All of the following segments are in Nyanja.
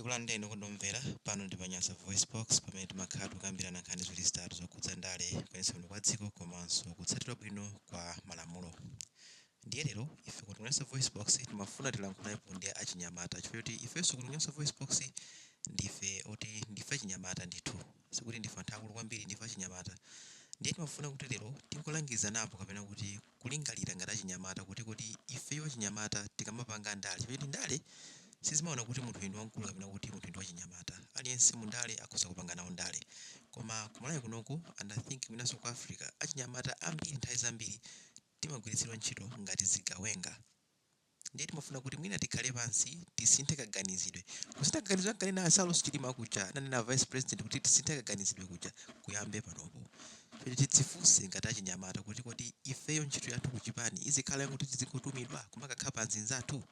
Tikulandireni okondedwa omvera, pano ndi pa Nyasa VoiceBox pamene timakhala tikukambirana nkhani ziwiri zitatu zokhudza ndale, kuyendetsa bwino kwa dziko komanso kutsatidwa bwino kwa malamulo. Ndiye lero, ife kuno ku Nyasa VoiceBox timafuna tilankhulepo ndi achinyamata chifukwa choti ifenso kuno ku Nyasa VoiceBox ndife oti ndife achinyamata ndithu, sikuti ndife anthu akulu kwambiri, ndife achinyamata. Ndiye timafuna kuti lero tingolangirizanapo kapena kuti kulingalira ngati achinyamata kuti kodi ifeyo achinyamata tikamapanga ndale, chifukwa choti ndale sizimaona kuti munthu uyu ndi wamkulu kapena kuti munthu uyu ndi wachinyamata. Aliyense mu ndale akhoza kupanga nawo ndale. Koma ku Malawi kunoku and I think mwinanso ku Africa, achinyamata ambiri nthawi zambiri timagwiritsidwa ntchito ngati zigawenga. Ndiye timafuna kuti mwina tikhale pansi tisinthe kaganizidwe. Kusintha kaganizidwe ankanena a Saulos Chilima kuja, ananena a Vice President kuti tisinthe kaganizidwe kuja kuyambe panopo. Kuti tidzifunse ngati achinyamata kuti kodi ifeyo ntchito yathu kuchipani izikhala yoti tizingotumidwa kumakakhapa anzinzathu?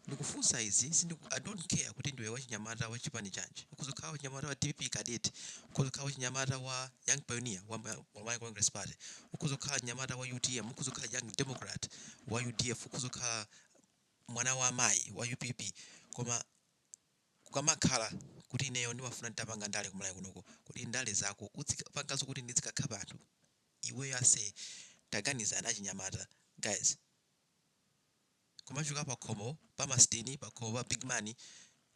Ndikufunsa izi sindiku I don't care kuti ndiwe wachinyamata wa chipani chanji. Ukhoza kukhala wachinyamata wa dpp cadet, ukhoza kukhala wachinyamata wa. young pioneer wa ma- wa Malawi Congress Party ukhoza kukhala mnyamata wa UTM ukhoza kukhala young democrat wa UDF ukhoza kukhala mwana wa amayi wa UPP koma kukamakhala kuti ineyo ndimafuna nditapanga ndale ku Malawi kunoko kodi ndale zako uzipangazo kuti ndizikakhapa anthu iweyo ase taganizani achinyamata guys kumachoka pakhomo pa masiteni pakhomo pa big man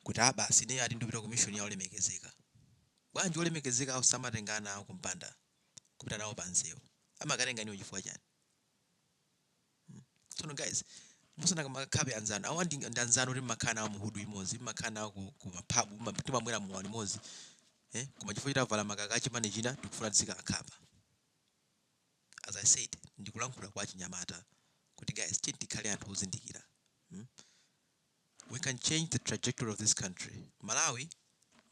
kuti abasi ineyo ati ndipita ku mission ya olemekezeka bwanji olemekezeka awo samatenga ana awo kumpanda kupita nawo pa msewu amakatenga inuyo chifukwa chani Hmm. tsono guys mukamakakhapa anzanu awa ndi ndi anzanu kuti mmakhala nawo muhudu imodzi mmakhala nawo ku, ku maphabu mma- timamwera muwani imodzi eh? koma chifukwa chitavala makaka a chipani china tikufuna tizikawakhapa as i said ndikulankhula kwa achinyamata kuti guys tiyeni tikhale anthu ozindikira mm? we can change the trajectory of this country malawi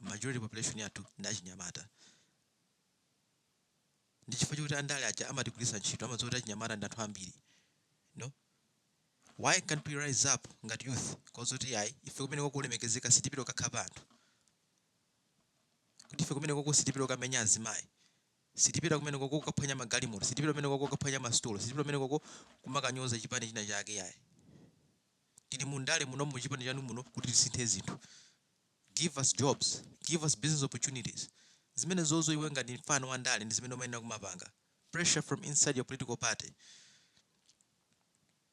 majority population yathu ndi achinyamata ndi chifukwa chake andale aja amatigwiritsa ntchito amadziwa kuti achinyamata ndi anthu ambiri no why can't we rise up ngati youth kuwauza kuti ayi ife kumenekoko olemekezeka sitipita kukakhapa anthu kuti ife kumenekoko sitipita kukamenya azimayi Sitipita kumenekoko kukaphwanya magalimoto, sitipita kumenekoko kukaphwanya masitolo, sitipita kumenekoko kumakanyoza chipani china chake yayi. Tili mu ndale muno mu chipani chanu muno kuti tisinthe zinthu. Give us jobs, give us business opportunities. Zimenezozo iwe ngati mfana wa ndale ndi zimene umayenera kumapanga. Pressure from inside your political party.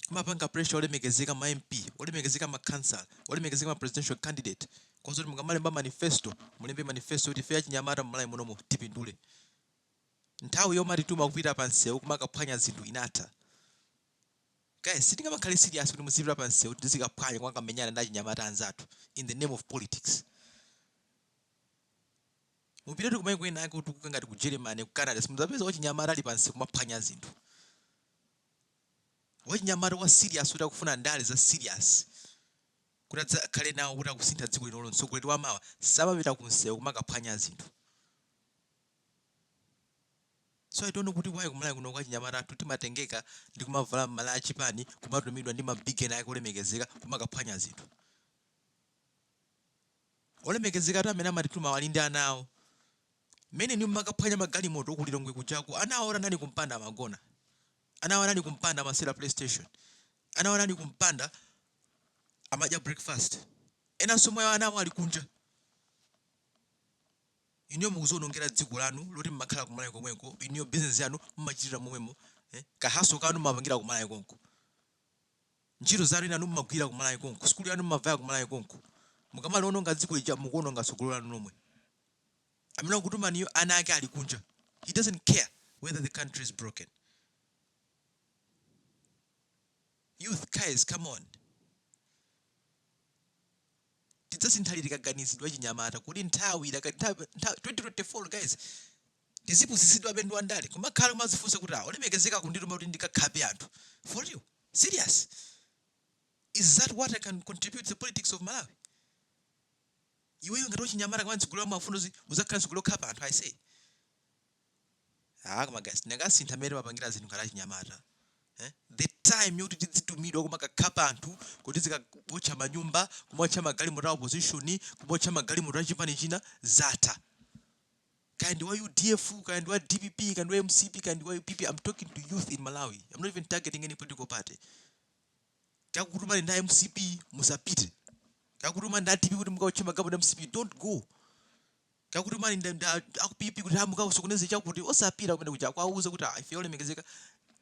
Kumapanga pressure olemekezeka ma MP, olemekezeka ma councillor, olemekezeka ma presidential candidate kuwauza kuti mukamalemba manifesto, mulembe manifesto yoti ife achinyamata mu Malawi munomu tipindule. Nthawi yomatituma kupita pa msewu kumakaphwanya zinthu inatha. Guys, sitingamakhale serious kuti muzipita pa msewu tizikaphwanya kumakamenyana ndi achinyamata anzathu in the name of politics. Mupita ku kumayiko ena ake otukuka ngati ku Germany, ku Canada, simudzapeza wachinyamata ali pa msewu kumaphwanya zinthu. wachinyamata wa serious kuti akufuna ndale za serious kuti adzakhale nawo kuti akusintha dziko linolo mtsogoleri wa mawa samapita ku msewu kumakaphwanya zinthu so i don't know kuti why kumalawi kuno achinyamata athu timatengeka ndi kumavala malaya achipani kumatumidwa ndi ma big man ake olemekezeka kumakaphwanya zinthu olemekezeka athu amene amatitumawa ali ndi ana awo mmene inu mmakaphwanya magalimoto aku Lilongwe kujaku ana awo anali kumpanda amagona ana awo anali kumpanda amasewera playstation ana awo anali kumpanda amadya breakfast enanso mwa ana awo ali kunja inuyo mukuzionongera dziko lanu loti mmakhala kumalawi komweko inuyo business yanu mmachitira momwemo eh? ka hustle kanu mmapangira kumalawi konko ntchito zanu enanu mmagwira kumalawi konko sukulu yanu mmavaya kumalawi konko mukamaliononga dziko lija mukuononga tsogolo lanu lomwe amene wakutumaniyo ana ake ali kunja he doesn't care whether the country is broken youth guys come on tidzasintha liti kaganizidwe achinyamata kodi nthawi idaka- nthawi- nthawi- 2024 guys tizipusitsidwabe ndi andale kumakhala kumazifunsa kuti ah olemekezeka kundituma kuti ndikakhape anthu for you serious is that what i can contribute to the politics of malawi Iweyo ngati wachinyamata ngati mtsogolo umaufuna uzi uzakhala mtsogolo okhapa anthu aisee aah koma guys tikanasintha mmene timapangila zinthu ngati achinyamata eeh the time yoti tidzitumidwa kumakakhapa anthu kuti tizikaotcha manyumba kumaotcha magalimoto a opposition kumaotcha magalimoto achipani china zatha kaya ndi wa udf kaya ndi wa dpp kaya ndi wa mcp kaya ndi wa upp am talking to youth in malawi am not even targeting any political party akakutumani ndi a mcp musapite akakutumani ndi a dpp kuti mukaotche magalimoto a mcp don't go akakutumani ndi ndi a a ku pp kuti mukasokoneze chakuti osapita kumenekuja kuwauza kuti "Ah, ife olemekezeka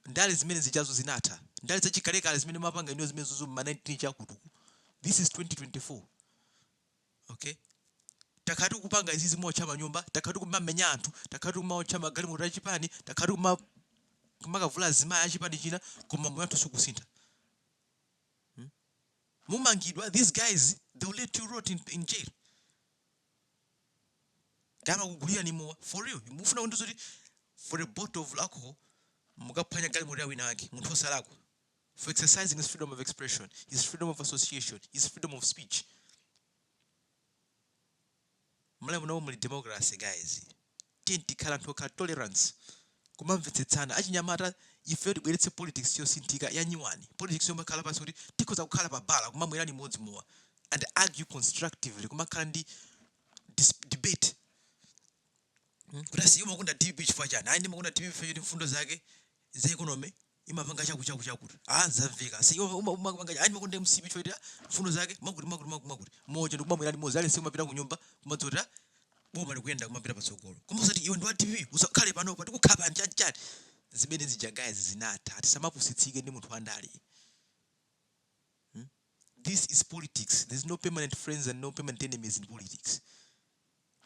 ndale zimene zijazo zinatha ndale zachikalekale zimene mmapanga inuyo zimenezo za ma 19 chakuti uku this is 2024 okay takhala tikupanga izizi kumaotcha manyumba takhala tikumamenya anthu takhala tikumaotcha magalimoto achipani takhala tikuma kumakavula azimayi achipani china koma moyo wathu sukusintha Hmm? mumangidwa these guys they will let you rot in, in jail akamakugulirani mowa for real mufuna kundiuza kuti for a bottle of alcohol mukaphwanya galimoto ya wina wake munthu osalakwa for exercising his freedom of expression, his freedom of association, his freedom of speech. Malawi muno muli democracy guys. Tiyeni tikhale anthu okhala tolerance. Kumamvetsetsana achinyamata ife tibweretse politics yosinthika yanyuwani. Politics yomakhala pansi kuti tikhoza kukhala pa bala kumamwera limodzi mowa and argue constructively kumakhala ndi dis- debate kuti asiye umakonda dpp chifukwa chani ayi ndimakonda dpp chifukwa choti mfundo zake za economy imapanga chakuti chakuti chakuti ah zaveka si umapanga ayi ndimakonda mcp chifukwa choti mfundo zake mwakuti mwakuti mwakuti mwakuti muja ndikumamwera limodzi aliyense mapita kunyumba kumadziwa kuti boma likuyenda kumapita patsogolo koma usati iwe ndi wa dpp usakhale panopa tikukhapa nchachati zimene zija guys zinatha tisamapusitsike ndi munthu wandale this is politics there's no permanent friends and no permanent enemies in politics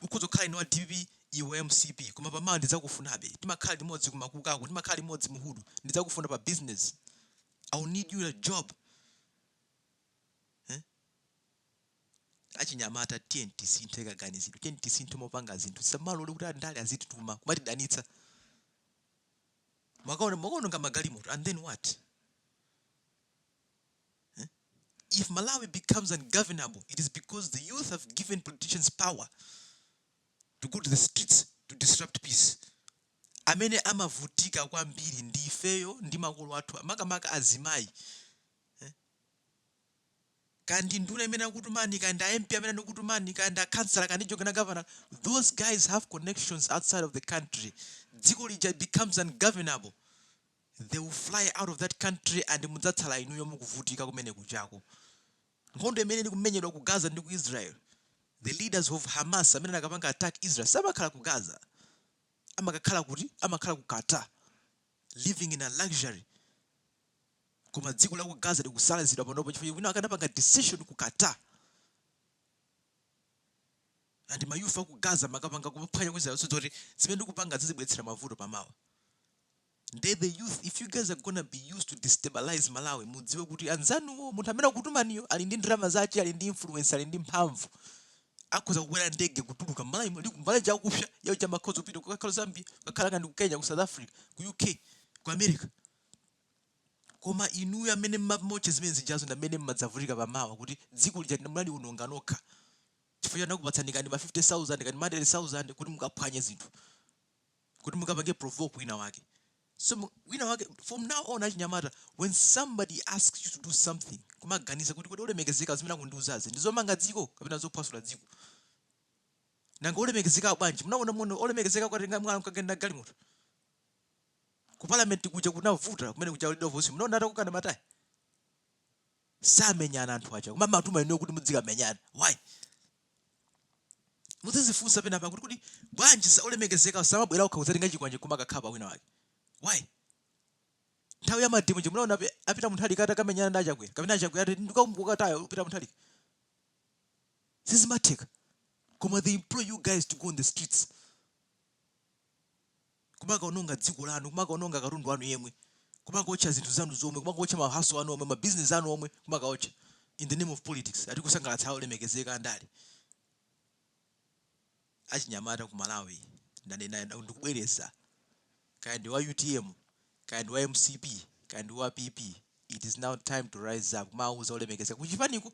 Ukhoza kukhala ine wa dpp iwe wa mcp koma pa mawa ndidzakufunabe timakhala limodzi ku makukaku timakhala limodzi mu hood ndidzakufuna pa business i will need you a job eh? achinyamata tiyeni tisinthe kaganizidwe tiyeni tisinthe mmopangira zinthu tisamalole kuti andale azitituma kumatidanitsa mwakaona mwakaononga magalimoto and then what if Malawi becomes ungovernable, it is because the youth have given politicians power to go to the streets to disrupt peace. amene amavutika kwambiri ndi ifeyo ndi makolo athu makamaka azimayi eh? kaya ndi nduna imene akutumani kaya ndi a mp amene akutumani kaya ndi a councilor kaya ndi jogena governor those guys have connections outside of the country dziko lija becomes ungovernable they will fly out of that country and mudzatsala inuyo mukuvutika kumene kujako nkhondo imene ili kumenyedwa ku gaza ndi ku israel the leaders of hamas amene anakapanga attack israel samakhala ku gaza amakakhala kuti amakhala ku qatar living in a luxury koma dziko la ku gaza likusalazidwa panopo chifukwa wina anakapanga decision ku qatar and ma youth a ku gaza amakapanga kuphwanya ku israel osadziwa kuti zimene tikupanga zizatibweretsera mavuto pamawa Nde the youth if you guys are gonna be used to destabilize Malawi mudziwe kuti anzanuwo munthu amene akutumaniyo ali ndi ndalama zake ali ndi influence ali ndi mphamvu akhoza kukwera ndege kutuluka Malawi muli kumbali chakupsa yao chamakhoza kupita kukakhala Zambia kukakhala kaya ndi ku Kenya ku South Africa ku UK ku America koma inuyo amene mumaotcha zimene zijazo ndi amene mmadzavutika pamawa kuti dziko lija munaliononga nokha chifukwa choti anakupatsani kaya ndi ma 50000 kaya ndi ma 100000 kuti mukaphwanye zinthu kuti mukapange provoke wina wake so wina wake from now on achinyamata when somebody asks you to do something kumaganiza kuti kodi olemekezeka zimene akundiuzazi ndizomanga dziko kapena zophwasula dziko nanga olemekezeka bwanji munaona muno olemekezeka kwatenga mwana kagenda galimoto ku parliament kuja kunavuta kumene kuja leader of opposition mnaona atakokana matayi samenyana anthu aja koma amatuma inuyo kuti mudzikamenyana why muzizifunsa pena pake kuti bwanji olemekezeka samabwera okha kudzatenga chikwanje koma akakhala pa wina wake why nthawi ya mademo ija munaona Peter Mutharika ati akamenyana ndi achakwera kapena achakwera ati ndikakumana naye Peter Mutharika sizimatheka koma they employ you guys to go on the streets kumakaononga dziko lanu, kumakaononga katundu wanu yemwe, kumakaotcha zinthu zanu zomwe, kumakaotcha ma hustle anu omwe, ma business anu omwe kumakaotcha in the name of politics, ati kusangalatsa olemekezeka andale. Achinyamata ku Malawi ndanena ndikubwereza, kaya ndi wa utm, kaya ndi wa mcp, kaya ndi wa PP, it is now time to rise up, kumauza olemekezeka kuchipaniko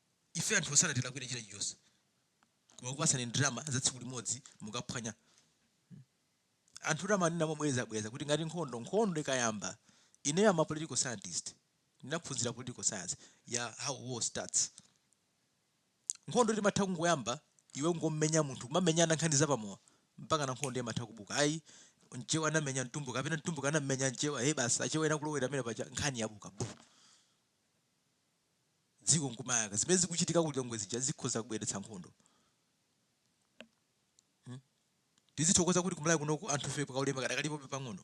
ife anthu sanatilakwire china chilichonse koma akupasani ndalama za tsiku limodzi mukaphwanye anthu ndimanena mobwereza bwereza kuti ngati nkhondo nkhondo ikayamba ineyo I'm a political scientist ndinaphunzira political science ya how war starts nkhondo imatha kungoyamba iwe ngommenya munthu kumamenyana nkhani zapamowa mpaka na nkhondo imatha kubuka ayi mchewa anamenya mtumbuka kapena mtumbuka anammenya mchewa he basi achewa ena kulowera pamene paja nkhani yabuka bu dziko nkumayaka zimene zikuchitika ku lilongwe zija zikhoza kubweretsa nkhondo Hmm? tizithokoza kuti kumalawi kunoku anthufe kaulemu kadakalipobe pang'ono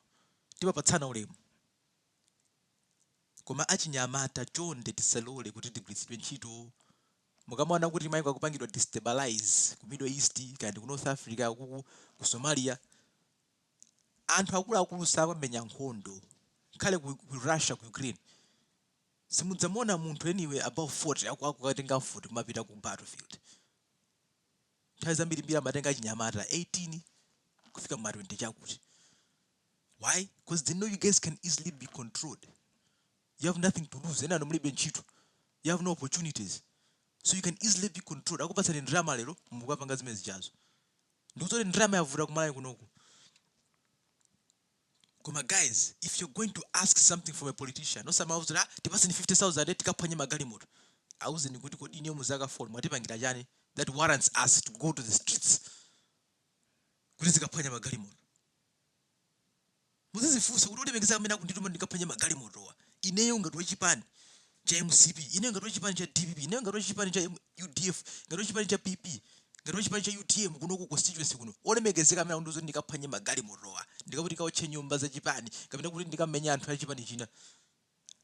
timapatsana ulemu koma achinyamata chonde tisalole kuti tigwiritsidwe ntchito mukamaona kuti maiko akupangidwa destabilize ku middle east kaya ndi ku north africa kuku ku somalia anthu akuluakulu sakamenya nkhondo nkhale ku, ku russia ku ukraine Simudzamuona munthu anyway above 40 akukatenga mfuti kumapita ku battle field. Nthawi zambirimbiri amatenga achinyamata 18 kufika mma 20 chakuti. Why? Coz they know you guys can easily be controlled. You have nothing to lose. Enanu mulibe ntchito. You have no opportunities. So you can easily be controlled. Akupatsani ndalama lero mukapanga zimene zijazo. Ndikudziwa kuti ndalama yavuta ku Malawi kunoku. Koma guys if you're going to ask something from a politician osamawauza kuti ah tipatseni 50000 tikaphwanye magalimoto auzeni kuti kodi inuyo mu zaka 4 mwatipangira chani that warrants us to go to the streets kuti tizikaphwanya magalimoto muzizifunsa kuti olemekezeka amene akundituma ndikaphwanye magalimotowa ineyo ngati wachipani cha mcp ine ngati wachipani cha dpp ine ngati wachipani cha udf ngati wachipani cha pp ngati wachipani cha utm kuno ku constituency kuno olemekezeka amene akundiuza kuti ndikaphwanye magalimotowa ndikakuti kaotche nyumba za chipani kapena kuti ndikamenye anthu a chipani china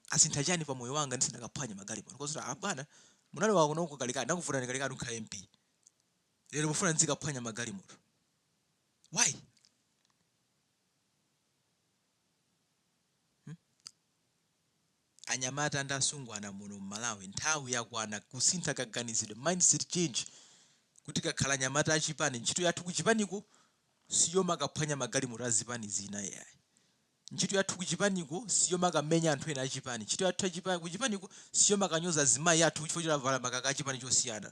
asintha chani pa moyo wanga ndisindakaphwanye magalimoto kodi abwana munali wakuno kuno kalekale ndakuvutani kalekale munkhala mp lero mufuna ndizikaphwanya magalimoto why Anyamata ndi asungwana muno mmalawi nthawi yakwana kusintha kaganizidwe, mindset change, kuti tikakhala anyamata achipani ntchito yathu kuchipaniko siyomakaphwanya magalimoto azipani zina ayi, ntchito yathu kuchipaniko siyomakamenya anthu ena achipani, ntchito yathu kuchipaniko siyomakanyoza azimayi athu chifukwa choti avala makaka achipani chosiyana.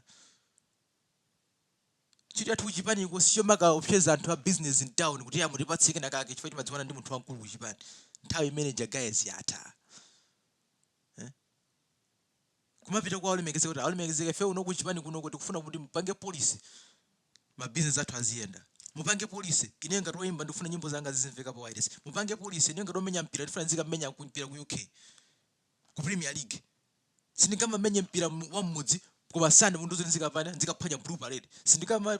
Ntchito yathu kuchipaniko sichomakaopseza anthu a business mtown kuti eya mutipatse kena kake chifukwa timadziwana ndi munthu wamkulu kuchipani. Nthawi imeneija guys yatha. Kumapita kwa olemekezeka kuti olemekezeka ife kuno kuchipani kunoko tikufuna kuti mupange policy ma business athu aziyenda. Mupange policy ine ngati woimba ndikufuna nyimbo zanga zizimveka pa wireless. Mupange policy ine ngati womenya mpira ndifuna nzikamenya mpira ku UK ku Premier League. Sindingamamenye mpira wa mmudzi koma Sunday mundiuza zoti nzikapana nzikaphwanya blue parade. Sindikama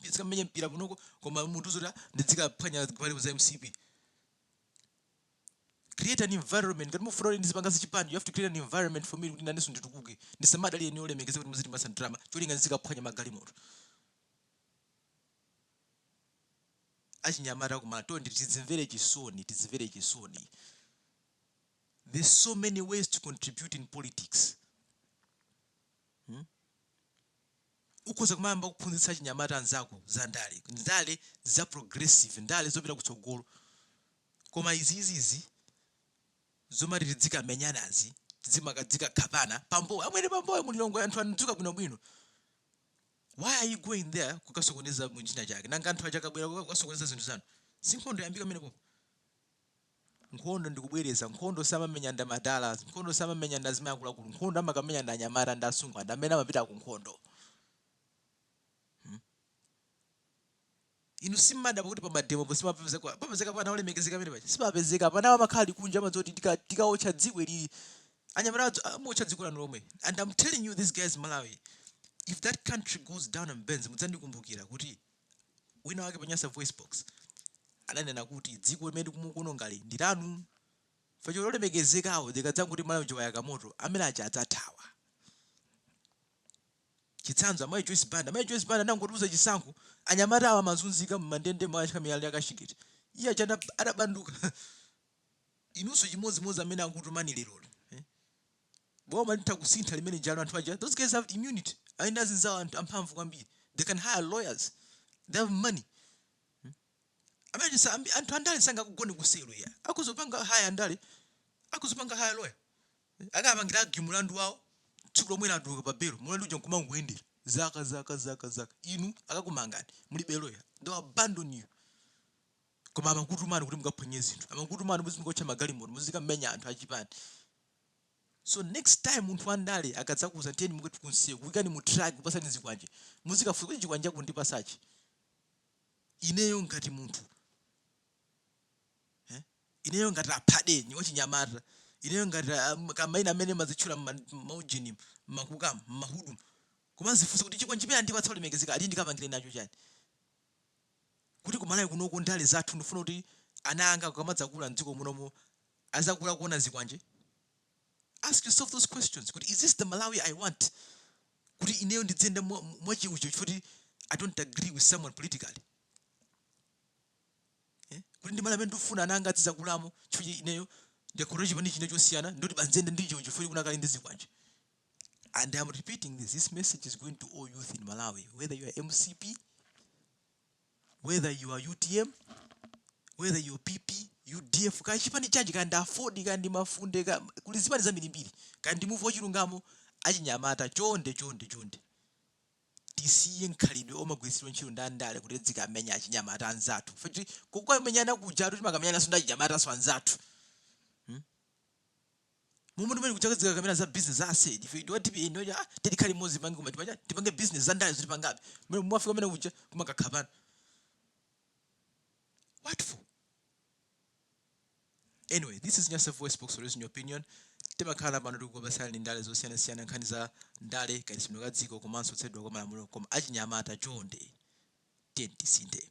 nzikamenye mpira kunoko koma mundiuza zoti ndidzikaphwanya zipani za mcp. Create an environment ngati mufuna kuti ndizipanga zachipani you have to create an environment for me kuti nanenso nditukuke. Ndisamadalire ine olemekezeka kuti muziti masa drama cholinga nzikaphwanya magalimoto. achinyamata kumalawi tidzimvere chisoni tidzimvere chisoni there's so many ways to contribute in politics hmm? ukhoza kumayamba kuphunzitsa achinyamata anzako za ndale ndale za progressive ndale zopita kutsogolo koma izizizi zomati tidzikamenyanazi tidzimakadzika khapana pa mbowe amwene pa mbowe mu lilongwe anthu anadzuka bwinobwino why are you going there kukasokoneza chifukwa chake nanga anthu aja akabwera kukasokoneza zinthu zanu sinkhondo iyambika kumene pompo nkhondo ndikubwereza nkhondo samamenya ndi amadala nkhondo samamenya ndi azimai akuluakulu nkhondo amakamenya ndi anyamata ndi asungwana ndi amene amapita ku nkhondo Hmm? inu simudabwa kuti pamademo po simapezeka papezeka ana olemekezeka amene paja simapezeka anawo amakhala ali kunja amadziwa kuti tika- tikaotcha dziko ili anyamata adzo- amaotcha dziko lanu lomwe and i'm telling you these guys malawi if that country goes down and burns mudzandikumbukira kuti Wina wake pa Nyasa Voice Box ananena kuti dziko limene mukuonongali ndi lanu. Facho olemekezekawo likadzangoti Malawi wayaka moto amene aja adzathawa. Chitsanzo amayi Joyce Banda. Amayi Joyce Banda anangotiuza chisankho anyamata awa amazunzika m'mandende mwa achika miyala ya kashingeti. Iwo aja adab- adabanduka. Inunso chimodzimodzi amene akutumani leroli. boma litha kusintha limenelija anu anthu aja those guys have immunity ali ndi azinzawo anthu amphamvu kwambiri they can hire lawyers they have money amene sa- ambi- anthu andale sangakagone ku selo ya akuzopanga hire andale akuzopanga hire lawyer akapangira argue mulandu wawo tsiku lomwe atuluka pa belo mulandu uja nkumangoyendera zaka zaka zaka zaka inu akakumangani mulibe lawyer they abandon you koma amakutumani kuti mukaphwanye zinthu amakutumani kuti muzikaotcha magalimoto muzikamenya anthu achipani So next time munthu wa ndale akadzakuuza tiyeni muke kunsiye kuikani mu truck kupasani zikwanje. Muzikafunsa kuti chikwanje akundipasachi. Ineyo ngati munthu. Eh? Ineyo ngati aphade wachinyamata. Ineyo ngati um, kaya maina amene mumazitchula maujeni makukamu mahudumu. kumazifunsa kuti chikwanje chimene andipatsa olemekezeka ali ndikapangire nacho chani. Kuti ku Malawi kunoko ndale zathu ndifuna kuti ana anga akamadzakula m'dziko munomo azakula kuona zikwanje? Ask yourself those questions kuti is this the Malawi I want? Kuti ineyo ndidziyenda mwacheucheu chifukwa kuti I don't agree with someone politically. Eh? Kuti ndi Malawi amene ndikufuna ana anga azizakulamo chifukwa ineyo ndikhale chipani china chosiyana ndoti basi ndiziyenda ndi cheucheu chifukwa kunakali ndi zikwanje. And I'm repeating this. This message is going to all youth in Malawi, whether you are MCP, whether you are utm whether you are pp udf kaya chipani chanji kaya ndi aford kaya ndi mafunde kaya kuli zipani zambirimbiri kaya ndi muvi wachilungamo achinyamata chonde chonde chonde tisiye mkhalidwe omagwiritsidwa ntchito ndi andale kuti tidzikamenya achinyamata anzathu futi kukamenyana kujatu timakamenyananso ndi achinyamatanso anzathu Momwe tumene kuchaka zika kamera za business za asedi. Ife ndiwa tipi eno ya tiyeni tikhale limodzi tipange kuma tipa chani. Tipange business za ndale zili pangabe. Mwe mwafika mmene kuja kumakakhapana. What for? Anyway, this is Nyasa Voice Box Release in your opinion. timakhala pano tikukambasana ndi ndale zosiyanasiyana nkhani za ndale kayendetsedwe ka dziko komanso kutsatidwa kwa malamulo koma achinyamata chonde tiyeni tisinthe